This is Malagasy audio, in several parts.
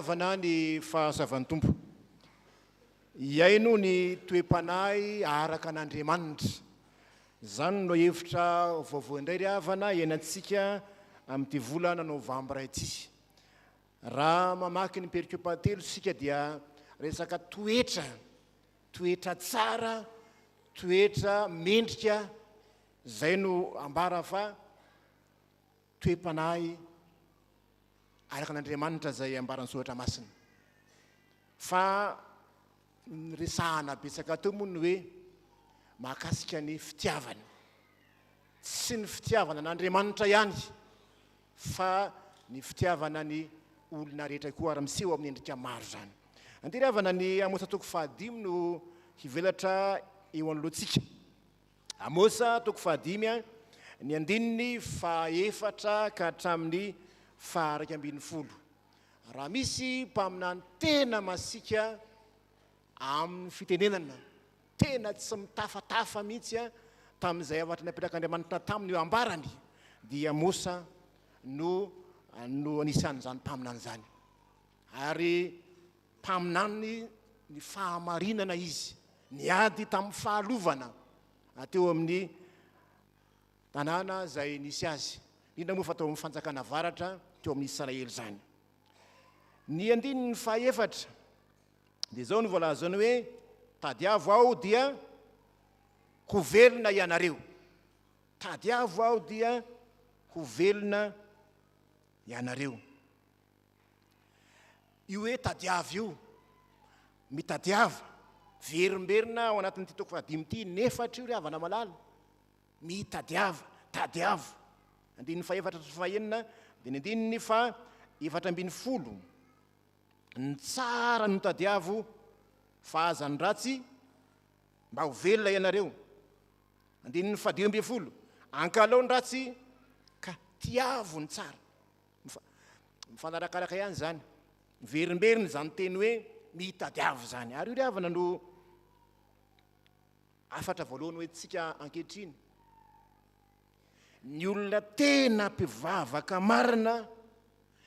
havana ny fahasavan'ny tompo iaino ny toe-panahy araka an'andriamanitra zany no hevitra vaovao indray ry havana ianantsika amin'ity volana novambra ity Raha mamaky ny periko pahatelo isika dia resaka toetra, toetra tsara, toetra mendrika, izay no ambara fa toe-panahy araka an'Andriamanitra izay ambaran'ny soratra masina. Fa ny resahana betsaka teo moa ny hoe mahakasika ny fitiavana. Tsy ny fitiavana an'Andriamanitra ihany. fa ny fitiavana ny olona rehetra koa ary miseho amin'ny endrika maro izany. Andery havana ny Amosa toko fahadimy no hivelatra eo anoloantsika. Amosa toko fahadimy ny andininy fahaefatra ka hatramin'ny fahairaika ambin'ny folo. Raha misy mpaminany tena masiaka amin'ny fitenenana tena tsy mitafatafa mihitsy a tamin'izay havatry ny apetrak'Andriamanitra taminy io ambarany dia Mosa no no anisan'izany mpaminany zany ary mpaminany ny fahamarinana izy niady tamin'ny fahalovana teo amin'ny tanàna izay nisy azy indrindra moa fa tao amin'ny fanjakana avaratra teo amin'ny Israely izany ny andininy fahaefatra Dia izao no voalazany hoe, Tadiavo aho dia ho velona ianareo. Tadiavo aho dia ho velona ianareo. Io hoe tadiavo io, mitadiava, verimberina ao anatin'ity toko fahadimy ity, inefatra io ry havana malala. Mitadiava, tadiavo. Andininy fahefatra sy fahenina, dia ny andininy fa efatra ambin'ny folo. ny tsara no tadiavo fa aza ny ratsy mba ho velona ianareo andininy fadimy ambin'ny folo ankalao ny ratsy ka tiavo ny tsara mifanarakaraka ihany zany miverimberina izany teny hoe mitadiavo zany ary io ry havana no afatra voalohany hoe tsika ankehitriny Ny olona tena mpivavaka marina,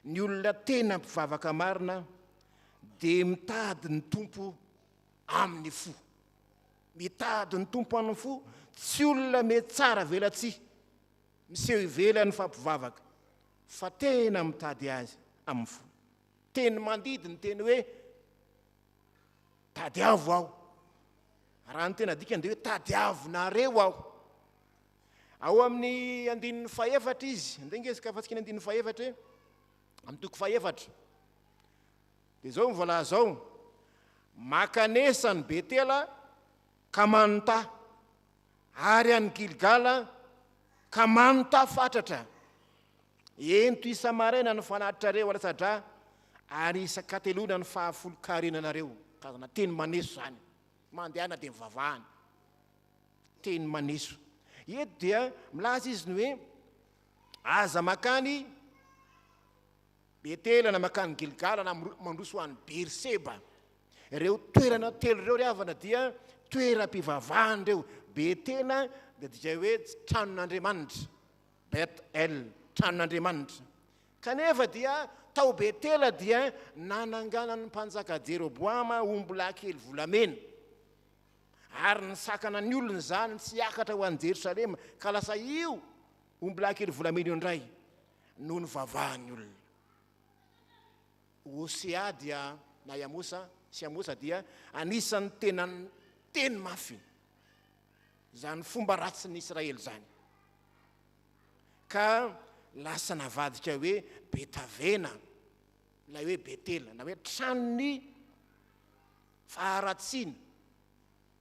ny olona tena mpivavaka marina dia mitady ny Tompo amin'ny fo. Mitady ny Tompo amin'ny fo, tsy olona mety tsara velatsihy, miseho ivelan'ny fampivavaka, fa tena mitady azy amin'ny fo. Teny mandidy ny teny hoe Tadiavo aho. Raha ny tena adikany dia hoe tadiavinareo aho. Ao amin'ny andininy fahefatra izy, andeha nge izka fantsika ny andininy fahefatra e, amin'ny toko fahefatra. Dia izao ny voalaza ao, makanesa ny Betela ka manontà ary any Gilgala, ka manontà fatratra. Ento isa-maraina ny fanatitrareo alatsa-drà, ary isan-kateloana ny fahafolon-karenanareo. Karazana teny maneso izany. Mandehana dia mivavahana. Teny maneso. Eto dia milaza izy ny hoe, aza makany Betela na mankany Gilgala na mandroso ho any Beerseba. Ireo toerana telo ireo ry havana dia toeram-pivavahana ireo. Betela dia dikay hoe tranon'Andriamanitra, Bet El, tranon'Andriamanitra. Kanefa dia tao Betela dia nananganan'ny mpanjaka Jeroboama ombilahikely volamena, ary nisakana ny olona izany tsy hiakatra ho any Jerosalema, ka lasa io ombilahikely volamena io indray. no nivavahan'ny olona. Hosea dia, na i Amosa sy Amosa dia anisan'ny tena niteny mafy izany fomba ratsin'ny Israely izany, ka lasa navadika hoe Betavena, ilay hoe Betela, na hoe tranon'ny faharatsiana.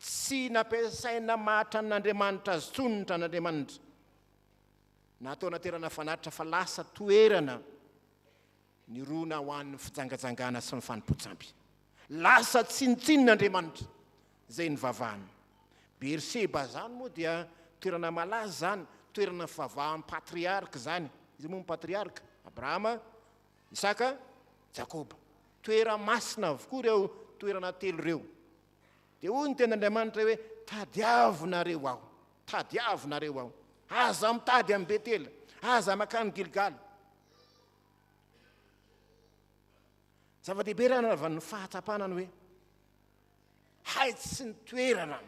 Tsy nampiasaina mahatranon'Andriamanitra azy intsony ny tranon'Andriamanitra, na atao anaterana fanatitra fa lasa toerana nirona ho an'ny fijangajangana sy ny fanompoan-tsampy. Lasa tsinontsinon'Andriamanitra izay nivavahana. Beerseba izany moa dia toerana malaza izany, toerana fivavahan'ny patriarka izany. Iza moa ny patriarka? Abrahama. Isaka, Jakoba. Toerana masina avokoa ireo toerana telo ireo. Dia hoy ny tenin'Andriamanitra hoe, Tadiavinareo aho, tadiavinareo aho. Aza mitady an'i Betela, aza mankany Gilgala. Zava-dehibe raha nanaovan'ny fahatsapana ny hoe haitsiky ny toerana.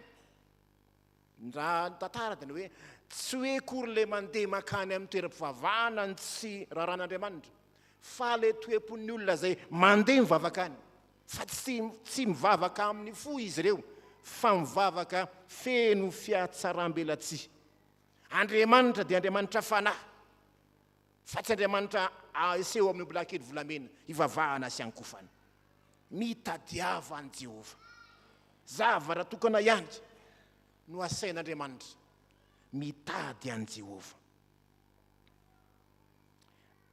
Raha ny tantara dia ny hoe tsy hoe akory ilay mandeha mankany amin'ny toeram-pivavahana ny tsy raran'Andriamanitra, fa ilay toe-pon'ny olona izay mandeha mivavaka any, fa tsy tsy mivavaka amin'ny fo izy ireo, fa mivavaka feno fihatsaram-belatsihy. Andriamanitra dia Andriamanitra fanahy. Fa tsy Andriamanitra aseho amin'ny ombilahikely volamena hivavahana sy hankofana. Mitadiava an'i Jehovah. Zavatra tokana ihany no asain'Andriamanitra, mitady an'i Jehovah.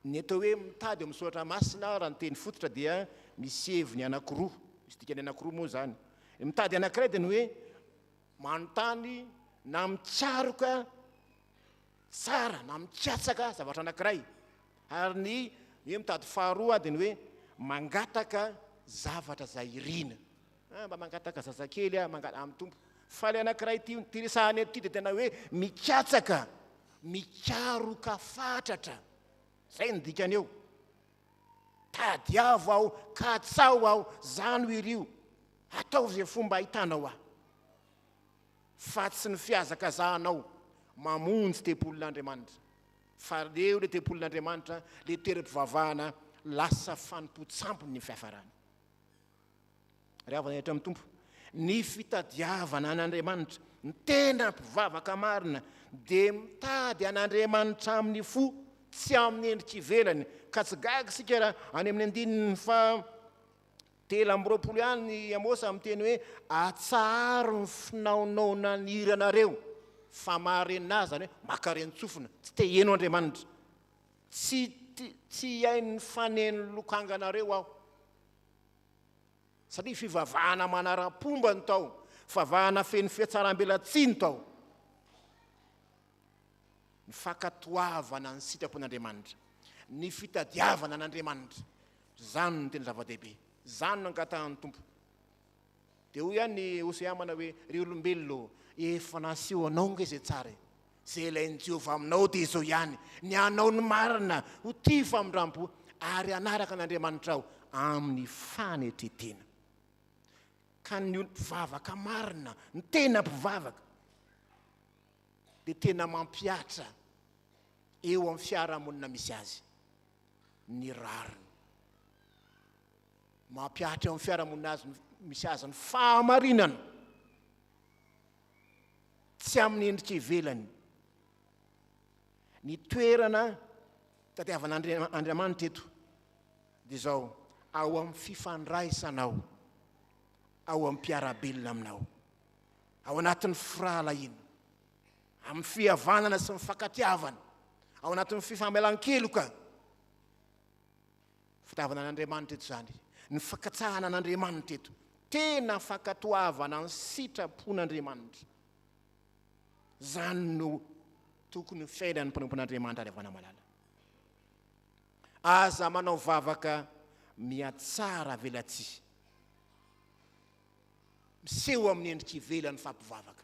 Ny atao hoe mitady ao amin'ny Soratra Masina, raha ny teny fototra, dia misy heviny anankiroa, misy dikany anankiroa moa izany. Ny mitady anankiray dia ny hoe, manontany na mitsaroka tsara na mikatsaka zavatra anankiray, ary ny hoe mitady faharoa dia ny hoe mangataka zavatra izay irina. Ah, mba mangataka zazakely aho, mangataka amin'ny Tompo. Fa ilay anankiray ity, ity resahana eto ity dia tena hoe mikatsaka, mikaroka fatratra. Izay no dikany eo. Tadiavo aho, katsaho aho, zano iry io, ataovy izay fomba ahitanao ahy, fa tsy ny fihazakazahanao mamonjy tempolin'Andriamanitra, fa aleo ilay tempolin'Andriamanitra, ilay toeram-pivavahana lasa fanompoan-tsampy ny fiafarany. Ry havana rehetra amin'ny Tompo, ny fitadiavana an'Andriamanitra, ny tena mpivavaka marina dia mitady an'Andriamanitra amin'ny fo, tsy amin'ny endrika ivelany. Ka tsy gaga isika raha any amin'ny andininy fa telo amby roapolo ihany i Amôsa miteny hoe atsaharo ny finaonao naniranareo fa marenà, izany hoe maka ren-tsofina, tsy te hihaino Andriamanitra. Tsy tsy hihaino ny fanen'ny lokanganareo aho. Satria fivavahana manara-pomba no tao, fivavahana feno fihatsarambelatsihy no tao. Ny fankatoavana ny sitrapon'Andriamanitra, ny fitadiavana an'Andriamanitra, izany no tena zava-dehibe, izany no angatahan'ny Tompo. Dia hoy ihany i Hosea amana hoe, Ry olombelona ô, efa naseho anao ange izay tsara e! Izay ilain'i Jehovah aminao dia izao ihany, ny hanao ny marina, ho tia famindrampo, ary hanaraka an'Andriamanitrao amin'ny fanetren-tena. Ka ny mpivavaka marina, ny tena mpivavaka, dia tena mampihatra eo amin'ny fiarahamonina misy azy ny rariny. Mampihatra eo amin'ny fiarahamonina azy misy azy ny fahamarinana, tsy amin'ny endrika ivelany. Ny toerana tadiavan'Andriamanitra eto dia izao, ao amin'ny fifandraisanao, ao amin'ny mpiara-belona aminao, ao anatin'ny firahalahiana, amin'ny fihavanana sy ny fakatiavana, ao anatin'ny fifamelan-keloka. Fitiavana an'Andriamanitra eto izany, ny fankatsahana an'Andriamanitra eto. Tena fankatoavana ny sitrapon'Andriamanitra. Izany no tokony ho fiainan'ny mpanompon'Andriamanitra any Avanamalala. Aza manao vavaka mihatsara avelatsihy. Miseho amin'ny endrika ivelany fa mpivavaka.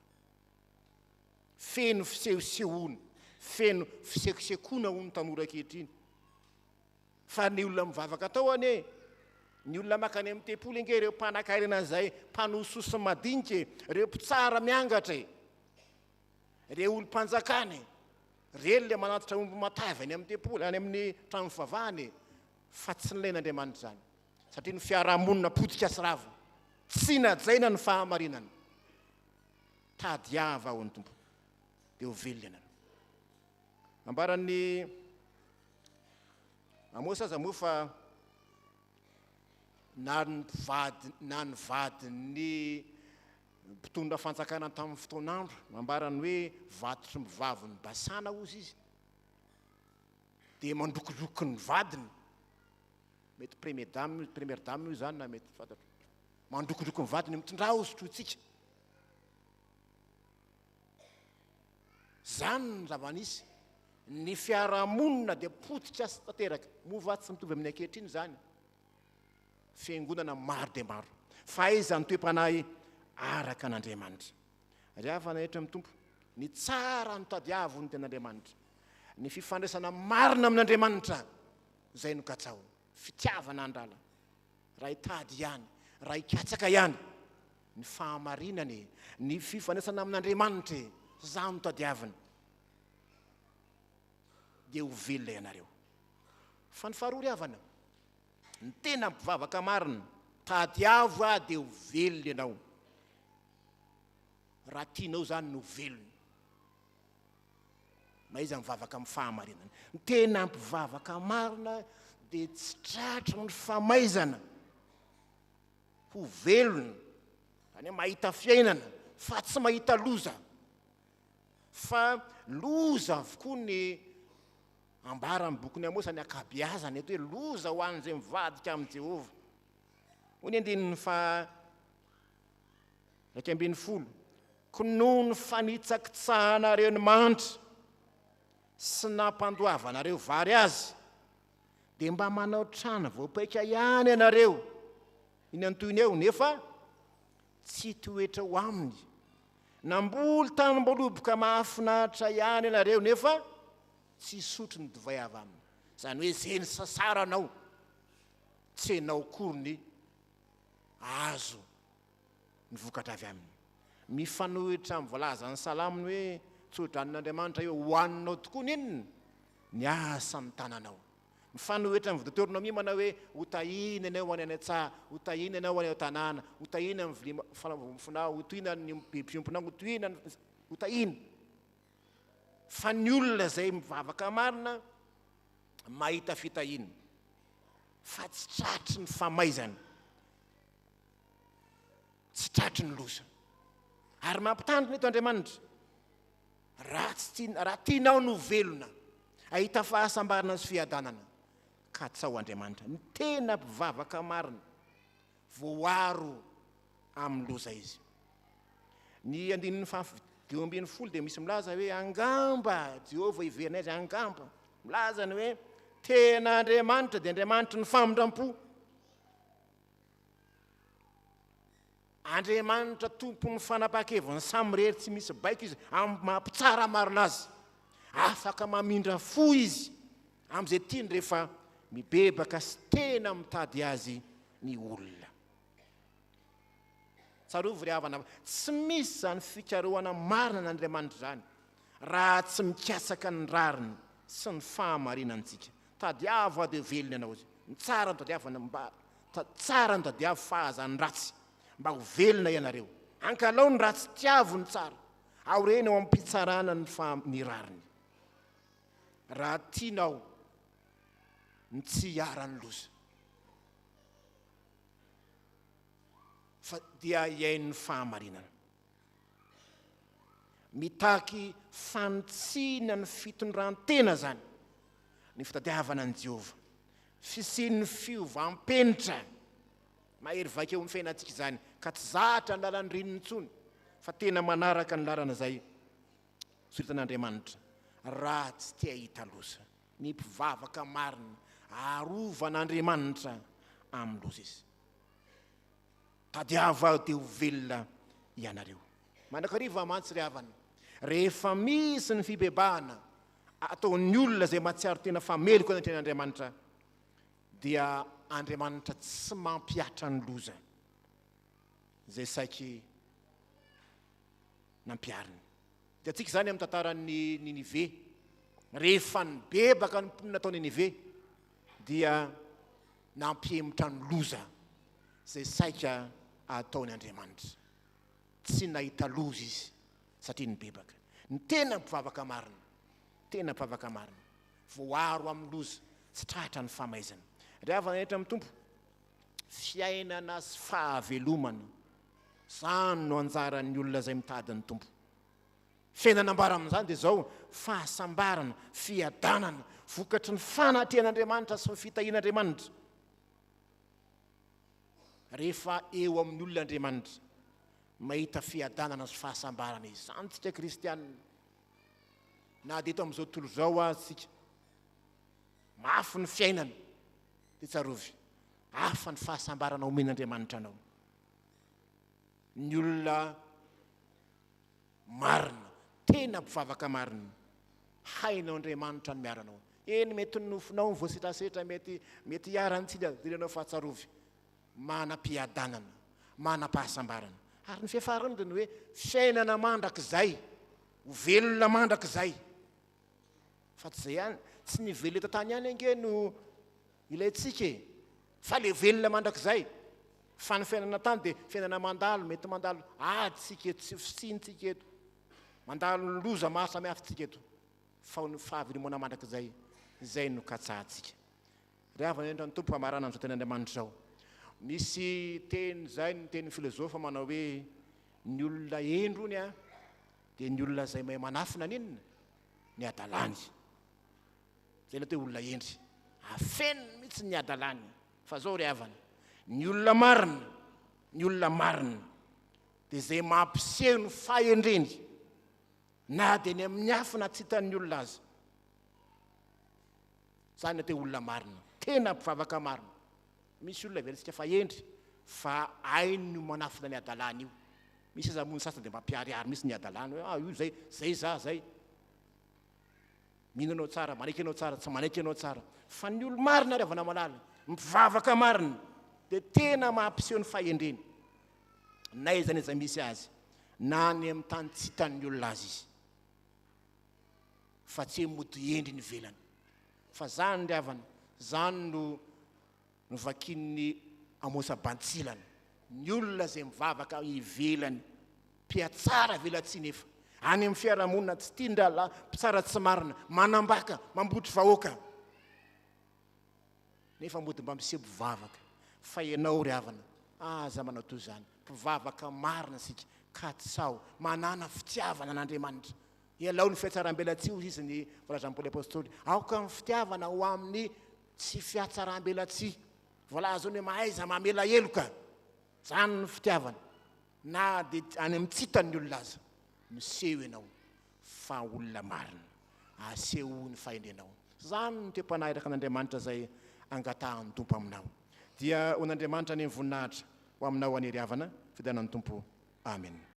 Feno fisehosehoana, feno fisekosekoana hoy ny tanora ankehitriny. Fa ny olona mivavaka tao anie, ny olona makany amin'ny tempoly ange ireo mpanankarena an'izay mpanohy soa sy madinika e, ireo mpitsara miangatra e, ireo olom-panjakana e, ireny ilay manatitra omby matavy any amin'ny tempoly, any amin'ny trano fivavahana e, fa tsy nilain'Andriamanitra izany, satria ny fiarahamonina potika sy rava, tsy najaina ny fahamarinana. Tadiava aho ny Tompo, dia ho velona ianareo. Nambaran'ny. Amosa aza moa fa na ny mpivady na ny vadin'ny mpitondra fanjakana tamin'ny fotoan'andro nambarany hoe vatotry ny vavin'i Basana ozy izy dia mandrokidroky ny vadiny, mety premier dame, première dame io izany na mety tsy fantatro, mandrokidroky ny vadiny mitondrà ozy trotsika. Izany no zava-nisy. Ny fiarahamonina dia potika sy tanteraka. Moa va tsy mitovy amin'ny ankehitriny izany? Fiangonana maro dia maro. Fahaiza ny toe-panahy araka an'Andriamanitra. Ry havana rehetra amin'ny Tompo, ny tsara no tadiavo ny ten'Andriamanitra. Ny fifandraisana marina amin'Andriamanitra, izay no katsaho. Fitiavana an'Rala. Raha hitady ihany, raha hikatsaka ihany ny fahamarinana e, ny fifandraisana amin'Andriamanitra e, zany no tadiavina, dia ho velona ianareo. Fa ny faharoa ry havana, ny tena mpivavaka marina, tadiavo aho dia ho velona ianao, raha tianao izany ny ho velona. Mahaiza mivavaka amin'ny fahamarinana. Ny tena mpivavaka marina dia tsy tratry ny famaizana ho velona, izany hoe mahita fiainana fa tsy mahita loza. Fa loza avokoa ny ambaran'ny bokin'i Amosa ny ankabeazany eto hoe loza ho an'izay mivadika amin'i Jehovah. Hoy ny andininy fa Iraika ambin'ny folo, Koa noho ny fanitsakitsahanareo ny mandry sy nampandoavanareo vary azy, dia mba manao trano voapaika ihany ianareo eny an-tohiny eo, nefa tsy toetra ho aminy. Namboly tanim-boloboka mahafinaritra ihany ianareo, nefa tsy hisotro ny divay avy aminy. Izany hoe izay nisasaranao, tsy ianao akory ny azo ny vokatra avy aminy. Mifanohitra amin'ny voalazan'ny salamo ny hoe tsodranoan'Andriamanitra eo ho aninao tokoa ny inona? Ny asa ny tananao. Mifanohitra amin'ny Deoteronomia manao hoe ho tahiana ianao any an-tsaha, ho tahiana ianao any an-tanàna, ho tahiana amin'ny vilia fanaovam-bofonao, ho tohina ny be mpiompinao, ho tohina ny, ho tahiana. Fa ny olona izay mivavaka marina mahita fitahiana fa tsy tratry ny famaizana. tsy tratry ny loza. Ary mampitandrina eto Andriamanitra, raha tsy tiana, raha tianao no velona, ahita fahasambarana sy fiadanana, katsaho Andriamanitra. Ny tena mpivavaka marina, voaro amin'ny loza izy. Ny andininy fahafi- dimy ambin'ny folo dia misy milaza hoe angamba Jehovah hiverina azy, angamba. Milaza ny hoe tena Andriamanitra dia Andriamanitry ny famindram-po. Andriamanitra tompon'ny fanapahan-keviny samy irery tsy misy baiko izy amin'ny maha mpitsara marina azy. Afaka mamindra fo izy amin'izay tiany rehefa mibebaka sy tena mitady azy ny olona. Tsarovy ry havana fa tsy misy izany fikarohana marina an'Andriamanitra izany raha tsy mikatsaka ny rariny sy ny fahamarinantsika. Tadiavo ady ho velona ianao izy. Ny tsara no tadiavo mba tsara no tadiavo fa aza ny ratsy mba ho velona ianareo. Ankalao ny ratsy, tiavo ny tsara. Aoreny ao am-pitsarana ny fa ny rariny. Raha tianao ny tsy hiharan'ny loza. Fa dia hihaino ny fahamarinana. Mitaky fanitsiana ny fitondran-tena izany, ny fitadiavana an'i Jehovah. Fisian'ny fiovam-penitra mahery vaika eo amin'ny fiainantsika izany, ka tsy zatra ny lalan'ny reniny intsony, fa tena manaraka ny lalana izay soritan'Andriamanitra, raha tsy te hahita loza. Ny mpivavaka marina arovan'Andriamanitra amin'ny loza izy. Tadiavo aho dia ho velona ianareo. Mandrakariva mantsy ry havana, rehefa misy ny fibebahana ataon'ny olona izay mahatsiaro tena fa meloka ny atrehin'Andriamanitra, dia Andriamanitra tsy mampihatra ny loza izay saiky nampihariny. Hitantsika izany amin'ny tantaran'ny Ninive. Rehefa nibebaka ny mponina tao Ninive, dia nampihemotra ny loza izay saika hataony Andriamanitra. Tsy nahita loza izy satria nibebaka. Ny tena mpivavaka marina, tena mpivavaka marina, voaro amin'ny loza sy tratra ny famaizana. Ry havana rehetra amin'ny Tompo, fiainana sy fahavelomana, izany no anjaran'ny olona izay mitady ny Tompo. Izay nanambara amin'izany dia izao, Fahasambarana, fiadanana, vokatry ny fanatrehan'Andriamanitra sy ny fitahian'Andriamanitra. Rehefa eo amin'ny olona Andriamanitra, mahita fiadanana sy fahasambarana izany isika kristiana, na dia eto amin'izao tontolo izao aza isika. Mafy ny fiainana, dia tsarovy, hafa ny fahasambarana omen'Andriamanitra anao. Ny olona. Marina, tena mpivavaka marina. Hainao Andriamanitra ny miaranao. Eny, mety ny nofonao no voasetrasetra, mety, mety hiharan'ny tsy lihazilihanao fa tsarovy, manam-piadanana, manam-pahasambarana. Ary ny fiafarany dia ny hoe, fiainana mandrakizay, ho velona mandrakizay. Fa tsy izay ihany, tsy ny velona eto an-tany ihany ange no Ilaintsika e! Fa le velona mandrakizay! Fa ny fiainana tany dia fiainana mandalo, mety mandalo ady tsika eto sy fisiany tsika eto, mandalo loza maro samihafa tsika eto, fa ny fahavelomanan mandrakizay izay no katsahantsika. Ry havana indrindra ny Tompo hamarana an'izao teny Andriamanitra izao. Misy teny izay ny teny filozofa manao hoe ny olona hendry ony a dia ny olona izay mahay manafina an'inona? ny hadalany. Jereo teo olona hendry, afeniny mihitsy ny hadalany fa zao ry havana, ny olona marina, ny olona marina dia izay mampiseho ny fahendreny na dia eny amin'ny afo na tsy hitan'ny olona aza. Zany atao hoe olona marina, tena mpivavaka marina. Misy olona heverentsika fa hendry fa hainy ny manafina ny hadalany io. Misy aza moa ny sasany dia mampiharihary mihitsy ny hadalany hoe ah io zay, zay za zay. Mino anao tsara, manaiky anao tsara, tsy manaiky anao tsara. Fa ny olo-marina ary avana malala, mpivavaka marina, dia tena mampiseho ny fahendreny. Na aiza n'aiza misy azy, na any amin'ny tany tsy hitan'ny olona azy izy. Fa tsy hoe mody endriny ivelany. Fa zany ry avana, zany no Novakian'i Amosa Bantsilana. Ny olona izay mivavaka ivelany, mpihatsara velatsihy nefa any amin'ny fiarahamonina tsy tia ny rahalahy, mpitsara tsy marina, manambaka, mambotry vahoaka. Nefa mody mba miseho mpivavaka fa ianao ry havana aza manao toy izany. Mpivavaka marina isika, katsaho manana fitiavana an'Andriamanitra. Ialao ny fihatsaram-belatsihy hoy izy ny Valazampoly Apôstôly, aoka ny fitiavana ho amin'ny Tsy fihatsarambelatsihy. Voalaza hoe mahaiza mamela heloka. Zany ny fitiavana. Na dia any amin'ny tsy tan'ny olona aza. Miseho ianao fa olona marina. Asehoy ny fahendrenao. Zany ny toe-panahy araka an'Andriamanitra izay angatahan'ny Tompo aminao. Dia ho an'Andriamanitra anie ny voninahitra ho aminao anie ry havana, fiderana ny Tompo. Amen.